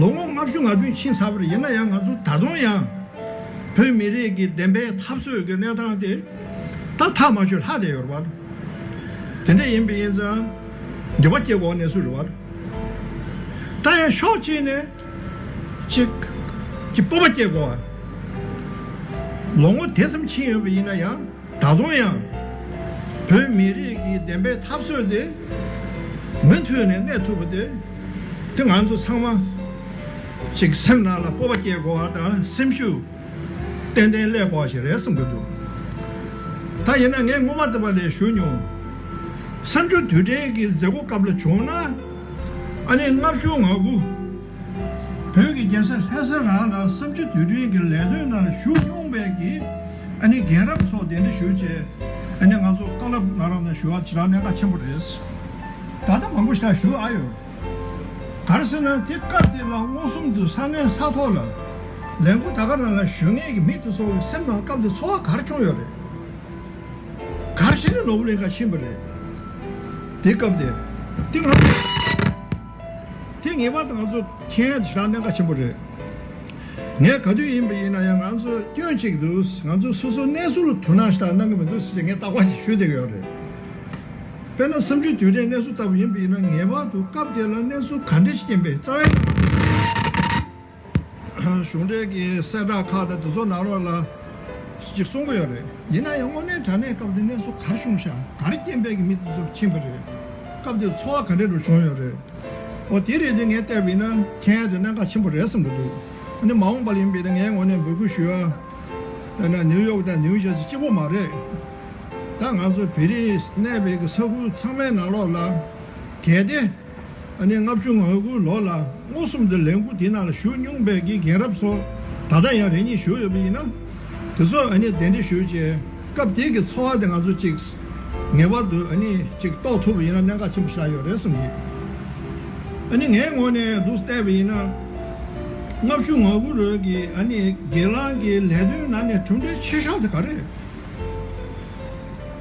ལོ་ངོ་ལྔ་བཅུ་ང་བདུན་ཕྱིན་ཚར་བར་ཡིན་ན་ཡང་ང་ཚོ་ད་དུང་ཡང། བོད་མི་རིགས་ཀྱི་བདེན་པའི་འཐབ་རྩོད་ཀྱི་གནས་སྟངས་དེ། ད་ཐག་མ་ཆོད་ལྷག་དེ་ཡོད་རེད། དེ་འདྲ་ཡིན་པས་ཡིན་ཙང། འགྱོད་པ་སྐྱེ་དགོངས་ནས་སུ་རེད། ད་ཡང་ཕྱོགས་གཅིག་ནས། གཅིག། གི་སྤོབས་པ་སྐྱེ་དགོས། ལོ་ངོ་དེ་ཙམ་ཕྱིན་ཡོད་པ་ཡིན་ན་ཡང། ད་དུང་ཡང། བོད་མི་རིགས་ཀྱི་བདེན་པའི་འཐབ་རྩོད་དེ། མུ་མཐུད་ནས་གནས་ཐུབ་པ་དེ། དེ་ང་ཚོ་ཚང་མ་ཞིག་སེམས་ནང་ལ་སྤོབས་པ་སྐྱེ་དགོས་བ་དང་སེམས་ཤུགས་ཏན་ཏན་སླེབས་དགོས་བ་ཞིག་རེད་བསམ་གྱི་འདུག་ད་ཡིན་ན་ངས་སྔོན་མ་ད་བར་ལས་ཞུ་མྱོང། གསར་འབྱོར་དུས་དྲན་གྱི་མཛད་སྒོ་སྐབས་ལ་བྱུང་ན། ཨ་ནེ་ལྔ་བཅུ་ང་དགུ། བོད་ཀྱི་རྒྱལ་ས་ལྷ་ས་རང་ལ་བསམ་སྤྱོད་དུས་དྲན་གྱི་ལས་དོན་ནང་ཞུགས་མྱོང་བའི་གི་ཨ་ནི་རྒན་རབས་ཚོ་གདན་འདྲེན་ཞུ་ཆེད་ཨ་ནི་ང་ཚོ་ཀ་ལབ་ན་རམ་ན་ཞུ་བ་ཇི་ལྟར་གནད་འགག་ཆེན་པོ་རེད། ད་ལྟ་མང་པོ་ཞག་ཞུ་ཨ་ཡོད། གར་སེ་ན་དེ་སྐབས་དེ་ལ་མངོན་སུམ་དུ་ས་གནས་ས་ཐོག་ལ་ལས་འགུལ་ད་ག་རང་ལ་ཞུ་ངེས་ཀྱི་མི་དེ་ཚོ་གི་སེམས་ནང་སྐབས་དེ་འཚོ་བ་གར་འཁྱོངས་ཡོད་རེད། གར་སེ་ན་ནོར་བུ་གླིང་ཁ་ཕྱིན་པ་རེད། དེ་སྐབས་དེ་ཏིང་ལྷ་མོ། དེ་ངེས་པར་དུ་ང་ཚོ་མཁྱེན་ཡོད་དུ་བཞག་གནད་འགག་ཆེན་པོ་རེད། ངས་ག་དུས་ཡིན་པ་ཡིན་ན་ཡང་ང་ཚོ་སྐྱོན་གཅིག་འདུག་ང་ཚོ་སོ་སོ་གནས་སུ་དུ་ནང་ཞིག་གནང་གི་མི་འདུག་ཟེར་ཅིག་ངས་བརྟག་པ་ཞིག་ཞུས་བསྡད་ཀྱི་ཡོད་རེད། དཔེར་ན་བསམ་ཚུལ་དུས་དྲན་གནས་ཚུལ་ལྟ་བུ་ཡིན་པ་ཡིན་ན་ངེས་པར་དུ་སྐབས་དེ་ལ་གནས་ཚུལ་ག་འདྲ་ཞིག་ཡིན་པའི་རྩ་བའི་གནས་ཚུལ་ཞིག་ཡོད་དགོས་རེད། གཞུང་འབྲེལ་གྱི་གསལ་བསྒྲགས་ཁག་དང་དེ་ཚོ་ནང་རོགས་ལ་ཅིག་གསུང་གི་ཡོད་རེད། ཡིན་ན་ཡང་དངོས་གནས་དྲ་གནས་སྐབས་དེ་གནས་ཚུལ་གར་བྱུང་ཤག་གར་རྐྱེན་འཕེལ་གྱི་མི་དེ་ཚོར་ཕྱིན་པ་རེད། སྐབས་དེར་འཚོ་བ་ག་འདྲེ་རུ་བྱུང་ཡོད་རེད། འོ་དེ་རེད་དེ་ངས་བལྟས་པ་ཡིན་ན་མཁྱེན་དེ་གནད་འགག་ཆེན་པོ་རེད་བསམ་གྱི་འདུག་ཨ་ནི་མ་འོངས་པར་ཡིན་པས་ན་ངས་ངོ་ནས་འབོད་སྐུལ་ཞུ་ཡ། དཔེར་ན་ནིའུ་ཡོག་དང་ནིའུ་ཇར་སི་གཅིག་པོ་མ་རེད། ད་ང་ཚོ་བེ་རི་གནས་བེ་གི་ས་ཁུལ་ཚང་མའི་ནང་རོགས་ལ་གལ་ཏེ། ཨ་ནེ་ལྔ་བཅུ་ང་དགུ་ལོ་ལ་མངོན་སུམ་དུ་ལས་འགུལ་དེའི་ནང་ལ་ཞུགས་མྱོང་པའི་དགེ་རྒན་རབས་ཚོ་ད་ལྟ་ཡང་རེ་གཉིས་བཞུགས་ཡོད་པ་ཡིན་ན། དེ་ཚོར་ཨ་ནེ་གདན་འདྲེན་ཞུ་རྗེས་སྐབས་དེའི་གི་འཚོ་བ་དེ་ང་ཚོས་ཅིག། ངེས་པར་དུ་ཨ་ནེ་ཅིག་རྟོགས་ཐུབ་པ་ཡིན་ན་གནད་འགག་ཆེན་པོ་ཞག་ཡོད་རེད་བསམ་གྱི་ཡོད། ཨ་ནེ་ངའི་ངོ་ནས་འདུག་བལྟས་པ་ཡིན་ན། ལྔ་བཅུ་ང་དགུ་ལོའི་གི་ཨ་ནེ་སྒེར་ལངས་ཀྱི་ལས་དོན་ནང་ནས་གྲུབ་འབྲས་ཆེ་ཤོས་དེ་ག་རེད།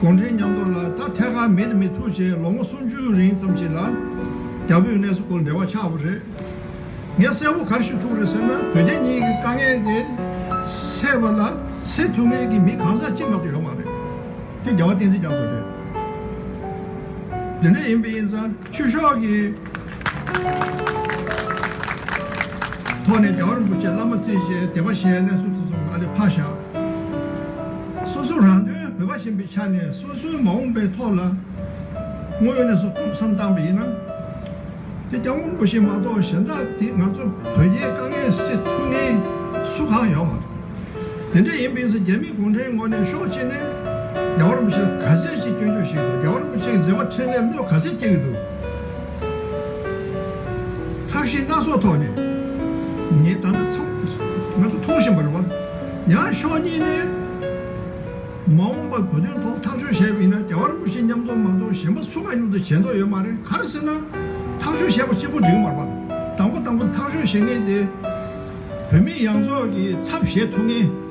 གུང་ཁྲན་མཉམ་དུ་ལ་ད་ཐད་ཀར་མེད་དེ་མི་ཐུག་བྱས་ལོ་ངོ་སུམ་ཅུའི་རིང་ཙམ་གྱི་ལ་རྒྱ་བོད་གནས་ཚུལ་སྐོར་འབྲེལ་བ་ཆགས་པ་རེད། ངས་གསལ་བོ་གར་ཞུ་ཐུབ་རེད་ཟེར་ན་བོད་རྒྱ་གཉིས་ཀྱི་དཀའ་ངལ་དེ་སེལ་བ་ལ་སེལ་ཐུབ་མཁན་གྱི་མི་གང་ཟག་གཅིག་མ་གཏོགས་ཡོད་མ་རེད། དེ་རྒྱལ་བ་བསྟན་འཛིན་རྒྱ་མཚོ་རེད། དེ་འདྲ་ཡིན་པས་ཡིན་ཙང་ཆུ་ཤོག་གི། ཐོག་ནས་རྒྱ་གར་རིན་པོ་ཆེ་བླ་མ་རྩེ་གཞིའི་སྡེ་བ་གཞན་ནས་སུ་ཚུགས་སོང་ད་ལི་ཕག་ཞག་སོ་སོ་རང་དོན་བོད་པ་བཞིན་པའི་ཆ་ནས་སོ་སོའི་མ་འོངས་པའི་ཐོག་ལ་དངོས་ཡོད་ནས་སུ་ཐུགས་བསམ་བཏང་བ་ཡིན་ན་དེ་སྐྱབས་མགོན་རིན་པོ་ཆེ་མ་གཏོགས་གཞན་དག་དེ་ང་ཚོ་བོད་རྒྱའི་དཀའ་ངལ་སེལ་ཐུབ་ངེས་སུ་གང་ཡོད་མ་རེད་དེ་འདྲ་ཡིན་པའི་ཚེ་རྒྱ་མི་གུང་ཁྲན་ངོ་ནས་ཤོག་ཅེས་ནས་རྒྱ་བ་རིན་པོ་ཆེ་ལ་ག་ཚད་ཅིག་སྐྱོན་བརྗོད་བྱེད་དགོས་རྒྱ་བ་རིན་པོ་ཆེ་གི་མཛད་པ་འཕྲིན་ལས་བློས་ག་ཚད་སྐྱེལ་གྱི་འདུག། ཐབས་ཤེས་སྣ་ཚོགས་ཐོག་ནས་ངས་ད་ནི་ཚང་ང་ཚོ་མཐོང་བཞིན་པ་རེད། ཡང་ཕྱོགས་གཉིས་ནས་མ་འོངས་པར་བོད་དོན་ཐོག་ཐག་གཅོད་བྱས་པ་ཡིན་ན་རྒྱ་གར་གྱི་ཕྱི་ཉམས་རྡོག་མ་རྡོག་གཞན་པ་སུ་གང་ཉུང་དུ་བྱས་མདོག་ཡོད་མ་རེད་ག་རེ་ཟེར་ན་ཐག་གཅོད་བྱས་པ་གཅིག་པོ་འགྲིག་གི་མ་རེད་པ་དང་པོ་དང་པོ་ཐག་གཅོད་བྱེད་མཁན་དེ་བོད་མི་ཡང་རྫོགས་ཀྱིས་ཚབ་བྱེད་ཐུབ་ངེས།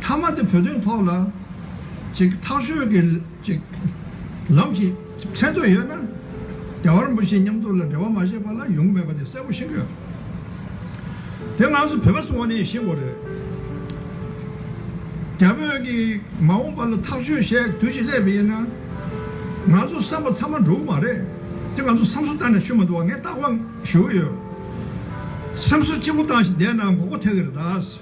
མཐའ་མ་དེ་བོད་དོན་ཐོག་ལ། ཅིག་ཐག་གཤོལ་གྱི། ཅིག། ལམ་ཞིག། མཚན་འདོད་ཡོད་ན། རྒྱ་བར་འབུ་ཞིག་མཉམ་དུ་ལ་འབྲེལ་བ་མ་བྱས་པ་ལ་ཡོང་གི་མེད་པ་དེ་གསལ་བོ་ཤེས་གི་ཡོད། དེ་ང་ཚོ་བོད་པ་ཚོ་ནས་ཤེས་དགོས་རེད། རྒྱ་བོད་ཀྱི་མ་འོངས་པ་ལ་ཐག་གཤོལ་བཤད་དུས་ཞིག་སླེབས་པ་ཡིན་ན། ང་ཚོ་བསམ་པ་ཚང་མ་འགྲོ་གི་མ་རེད། དེ་ང་ཚོ་བསམ་སོ་བཏང་ནས་ཆུད་མ་འདུག་བ་ངས་རྟག་པ་ཞུ་གི་ཡོད། སེམས་གསོ་ལྕི་པོ་བཏང་ཞིག་བསྡད་ན་འགོག་པ་ཐེག་གི་རེད་ད།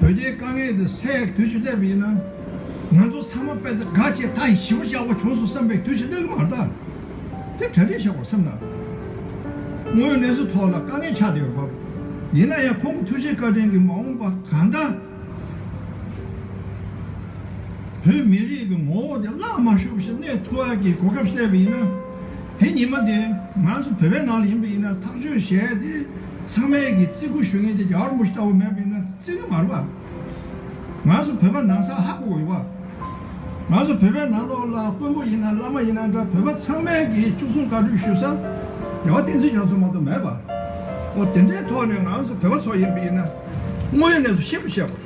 བོད་རྒྱའི་དཀའ་ངལ་འདི་སེལ་ཡག་གི་དུས་ཤིག་སླེབས་པ་ཡིན་ན། ང་ཚོ་ཚང་མ་དཔེ་ལྟ་དགའ་ཆེ་མཐའ་ཡི་ཞི་བ་ཆགས་པ་བྱུང་སོང་བསམ་པའི་དུས་ཤིག་སླེབས་གི་མ་རེད་དཱ། དེ་གྲ་སྒྲིག་བྱེད་དགོས་སེམས་ན། དངོས་གནས་སུ་ཐོག་ལ་དཀའ་ངལ་ཆགས་བསྡད་ཡོད་སྐོར། ཡིན་ན་ཡང་ཁོང་གི་ཐུགས་བཞེད་བཀའ་དྲིན་གྱིས་མ་འོངས་པ་གང་ལྟར། བོད་མི་རིགས་ཀྱི་ངོ་བོ་དེ་བརླག་མ་ཤོག་པ་ཞིག་གནས་ཐུག་ཡག་གི་གོ་སྐབས་སླེབས་པ་ཡིན་ན། དེ་ཉིན་མ་དེ་ང་ཚོ་བོད་པའི་ནང་ལ་ཡིན་པ་ཡིན་ན་ཐག་གཅོད་བྱས་ཏེ་ཚང་མས་ཀྱི་བརྩི་བཀུར་ཞུ་མཁན་དེ་རྒྱ་གར་མུ་ཤི་ལྟ་བུ་མེད་པ་ཡིན་ན་བརྩི་གི་མ་རེད་པ། ང་ཚོ་བོད་པ་ནང་སར་ཧ་གོ་དགོས་པ། ང་ཚོ་བོད་པའི་ནང་ལོགས་ལ་དཀོན་པོ་ཡིན་ན་བླ་མ་ཡིན་ན་འདྲ་བོད་པ་ཚང་མས་ཀྱི་བཅུ་གསུམ་བཀའ་དྲུག་ཞུ་ས་རྒྱལ་བ་བསྟན་འཛིན་རྒྱ་མཚོ་མ་གཏོགས་མེད་པ། འོ་དེ་འདྲའི་ཐོག་ནས་ང་ཚོ་བོད་པ་ཚོ་ཡིན་པ་ཡིན་ན་དངོས་ཡོད་གནས་ཚུལ་ཤེས་པ་བྱས་པ།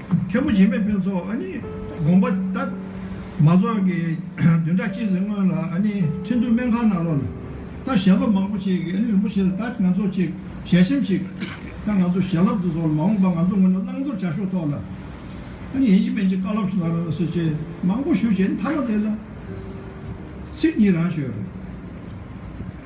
མཁན་པོ་འཇིགས་མེད་དཔོན་ཚོགས་ཨ་ནི་དགོངས་པ་ལྟར། མ་རྫོགས་ཀྱི་བདུན་ཕྲག་གཅིག་རིང་སྔོན་ལ་ཨ་ནི་ཁྲི་འདུའི་སྨན་ཁང་ནང་ལོག་ལ། ད་ཞལ་སློབ་མང་པོ་ཅིག་གིས་ཨ་ནི་རིན་པོ་ཆེ་ལ་ད་ང་ཚོ་ཅིག་ཞལ་ཆེམས་ཤིག། ད་ང་ཚོ་ཞལ་སློབ་ཏུ་ཚོགས་ལ་མ་འོངས་པར་ང་ཚོ་ངོས་ནས་བླང་དོར་བྱ་ཤོག་ཐོག་ལ། ཨ་ནི་ཡིན་གཅིག་མིན་གཅིག་བཀའ་སློབ་ཞིག་གནང་རོགས་ཟེར་ཆེད་མང་པོ་ཞུ་བྱས་ནས་མཐའ་མ་དེ་ལ། ཚིག་གཉིས་རང་ཤོད།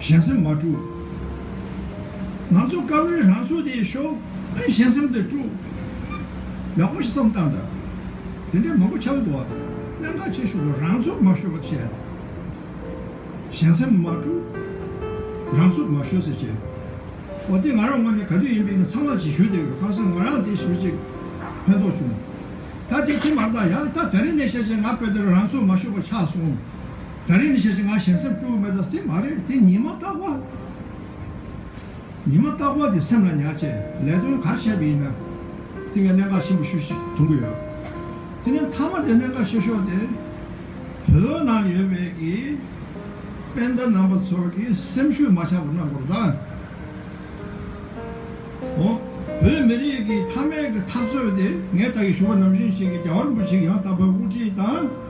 གཞན་སེམས་མ་དཀྲུགས། ང་ཚོ་དཀར་བོའི་རང་ཚུགས་དེ་ཤོག་ཨེ་གཞན་སེམས་དེ་དཀྲུགས། ཡག་པོ་ཞིག་བསམ་བཏང་དང། དེ་འདྲའི་མང་པོ་ཆགས་ཡོད་པ། གནད་འགག་ཆེ་ཤོས་དུ་རང་ཚུགས་མ་ཤོད་པ་བྱས། གཞན་སེམས་མ་དཀྲུགས། རང་ཚུགས་མ་ཤོད་ཟེར་བྱས། ཨོ་དེ་ང་རང་ངོ་ནས་ག་དུས་ཡིན་པའི་ནི་ཚང་མ་ཇི་ཞུས་དེ་གང་སེམས་ང་རང་དེ་ཞུས་ཅིག། ཕན་ཐོགས་བྱུང། ད་དེ་དེ་མ་གཏང་ཡང་ད་ད་རིང་ནས་བཤད་བྱས་ང་དཔེ་དེར་རང་ཚུགས་མ་ཤོད་པ་ཆགས་སོང། ད་རེས་ནི་ཤེས་བྱ་ང་གཞན་སེམས་སྤྲོ་བའི་མེ་དང་སེམས་མ་རེད་དེ་ཉི་མ་རྟག་པ། ཉི་མ་རྟག་པ་དེ་སེམས་ལ་ཉག་ཆེ་ལས་དོན་གར་བྱས་པ་ཡིན་ན། དེ་ངས་གནད་འགག་ཆེན་པོ་ཤུ་ཞིག་མཐོང་གི་ཡོད། དེ་ནས་མཐའ་མ་དེ་གནད་འགག་ཆེ་ཤོས་དེ། བོད་ནང་ཡོད་པའི་གི་སྤེན་ཟླ་རྣམ་པ་ཚོ་གི་སེམས་ཤུགས་མ་ཆག་པ་གནང་དགོས་པ་དང། འོ། བོད་མི་རིགས་ཀྱི་མཐའ་མའི་གི་འཐབ་རྩོད་དེ་ངས་ད་གི་ཞུ་བ་ནམ་བཞིན་ཞིག་གི་རྒྱ་བ་རིན་པོ་ཆེ་ཡང་དག་པའི་དབུ་ཁྲིད་དང།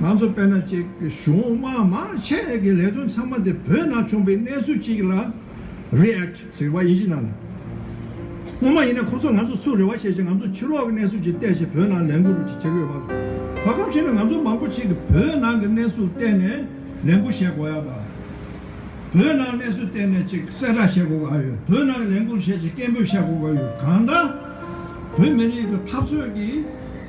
ང་ཚོ་དཔལ་ནཱ་ཅན་གྱི་གཞུང་དམངས་མང་ཆེ་གི་ལས་དོན་ཚང་མ་དེ་བོད་ནང་བྱུང་པའི་གནས་ཚུལ་གཅིག་ལ React ཟེར་བ་ཡིན་གཞི་ནང་ལ། སྔོན་མ་ཡིན་ན་ཁོ་ཚོ་ང་ཚོ་ཚུར་རེ་བ་བྱས་ཤིང་ང་ཚོ་ཕྱི་ལོག་གི་གནས་ཚུལ་གྱི་བལྟས་ཤིང་བོད་ནང་ལས་འགུལ་རུ་བྱེད་ཀྱི་ཡོད་པ་རེད། བར་ཁམས་ཤིག་ནས་ང་ཚོ་མང་པོ་ཞིག་གི་བོད་ནང་གི་གནས་ཚུལ་བལྟས་ནས་ལས་འགུལ་བྱེད་དགོས་ཡ་དང། བོད་ནང་གནས་ཚུལ་བལྟས་ནས་ཅིག་གསལ་བསྒྲགས་བྱེད་དགོས་ཀྱི་ཡོད་བོད་ནང་གི་ལས་འགུལ་བྱེད་ཅིག་སྐད་འབོད་བྱེད་དགོས་ཀྱི་ཡོད་གང་ལྟར། བོད་མི་རིགས་གི་འཐབ་རྩོད་ཀྱི།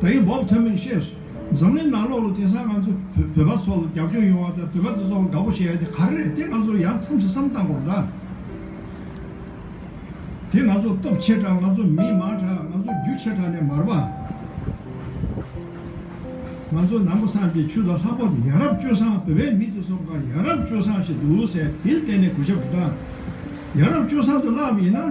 ད་ཡིག་འབོག་ཐུབ་མིན་ཤེས་སོང། འཛམ་གླིང་ནང་ལོག་ལོག་དེང་སང་ང་ཚོ་བོད་པ་ཚོ་ལ་རྒྱབ་སྐྱོར་ཡོང་བ་དང་བོད་པ་དེ་ཚོ་ལ་དགའ་པོ་བྱེད་ཡ་དེ་ག་རེ་རེད་དེ་ང་ཚོ་ཡང་མཚམས་སུ་བསམ་བཏང་གོ་ད། དེ་ང་ཚོ་སྟོབས་ཆེ་དྲག་ང་ཚོ་མི་མང་དྲག་ང་ཚོ་རྒྱུ་ཆེ་དྲག་ནས་མར་པ། ང་ཚོ་ནང་པ་སངས་རྒྱས་ཆོས་དང་ལྷག་པར་དུ་ཡ་རབས་སྤྱོད་བཟང་བོད་པའི་མི་དེ་ཚོ་འགའ་ཡ་རབས་སྤྱོད་བཟང་ཞིག་འདུག་ཟེར་དེ་ལ་བརྟེན་ནས་གུས་ཞབས་དྲག། ཡ་རབས་སྤྱོད་བཟང་དུ་བརླག་པ་ཡིན་ན།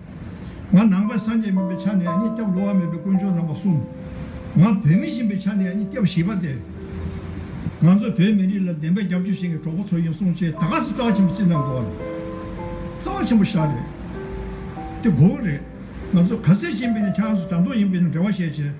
ང་ནང་པ་སངས་རྒྱས་མིན་པའི་ཆ་ནས་ཡང་སྙིང་སྐྱོབ་ལོ་བ་མིན་པའི་དཀོན་མཆོག་རྣམ་པ་གསུམ། ང་བོད་མི་ཡིན་པའི་ཆ་ནས་ཡང་སྙིང་སྐྱོབ་བྱིས་པ་སྟེ། ང་ཚོ་བོད་མི་རིགས་ལ་བདེན་པའི་རྒྱབ་སྐྱོར་བྱེད་མཁན་གྲོགས་པོ་ཚོ་ཡིན་གསུངས་རྗེས་ད་ག་ཟེ་རྩ་བ་ཆེན་པོ་ཅི་རྣམས་འགྲོ་བ་རེད། རྩ་བ་ཆེན་པོ་ཤག་རེད། དེ་མགོ་བོ་རེད། ང་ཚོ་ག་ཚད་ཅིག་མིན་ན་ཁྱེད་རང་ཚོ་དྲ་འདོགས་ཡིན་པས་ན་འབྲེལ་བ་བྱས་བྱས།